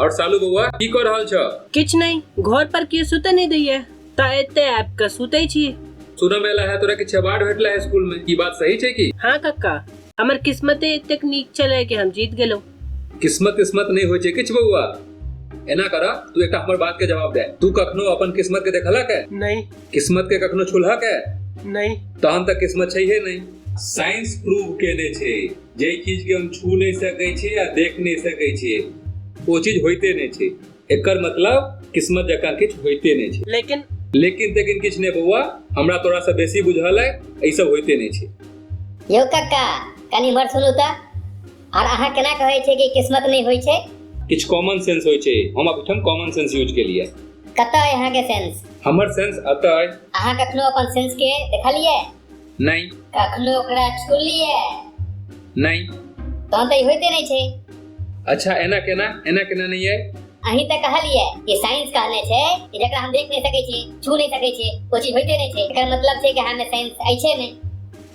और सालू बउआ की कर रहल छ किछ नहीं घर पर क्यों सुते नहीं दैये ता एते ऐप का सुते छी सुना मेला है तोरा के छबाड़ भेटला है स्कूल में की बात सही छै की हाँ कक्का हमर किस्मते इतने नीक चले कि हम जीत गेलो किस्मत किस्मत नहीं हो किछ बउआ एना करा तू एक हमर बात के जवाब दे तू कखनो अपन किस्मत के देखलक है नहीं किस्मत के कखनो छुलहक है नहीं तहन तक किस्मत छै है नहीं साइंस प्रूव केने छे जे चीज के हम छू नहीं सके छे या देख नहीं सके छे वो चीज होते नहीं छे एकर मतलब किस्मत जका किछ होते नहीं छे लेकिन लेकिन लेकिन किछ नहीं बउआ हमरा तोरा से बेसी बुझल है ऐसा होते नहीं छे यो काका कनी मर सुनू ता आर अहाँ केना कहै छै कि किस्मत नहि होइ छै किछु कॉमन सेंस होइ छै हम अखन कॉमन सेंस यूज केलिए कतऽ अइ अहाँके सेंस हमर सेंस अतऽ अइ अहाँ कखनो अपन सेंस के देखलिए नहि कखनो ओकरा छुलिए नहि तहन तऽ ई होइते नहि छै अच्छा एना केना एना केना नहि अइ अहीं तऽ कहलिए कि साइंस कहने छै कि जकरा हम देख नहि सकै छी छू नहि सकै छी ओ चीज होइते नहि छै एकर मतलब छै कि अहाँमे साइंस अछि नहि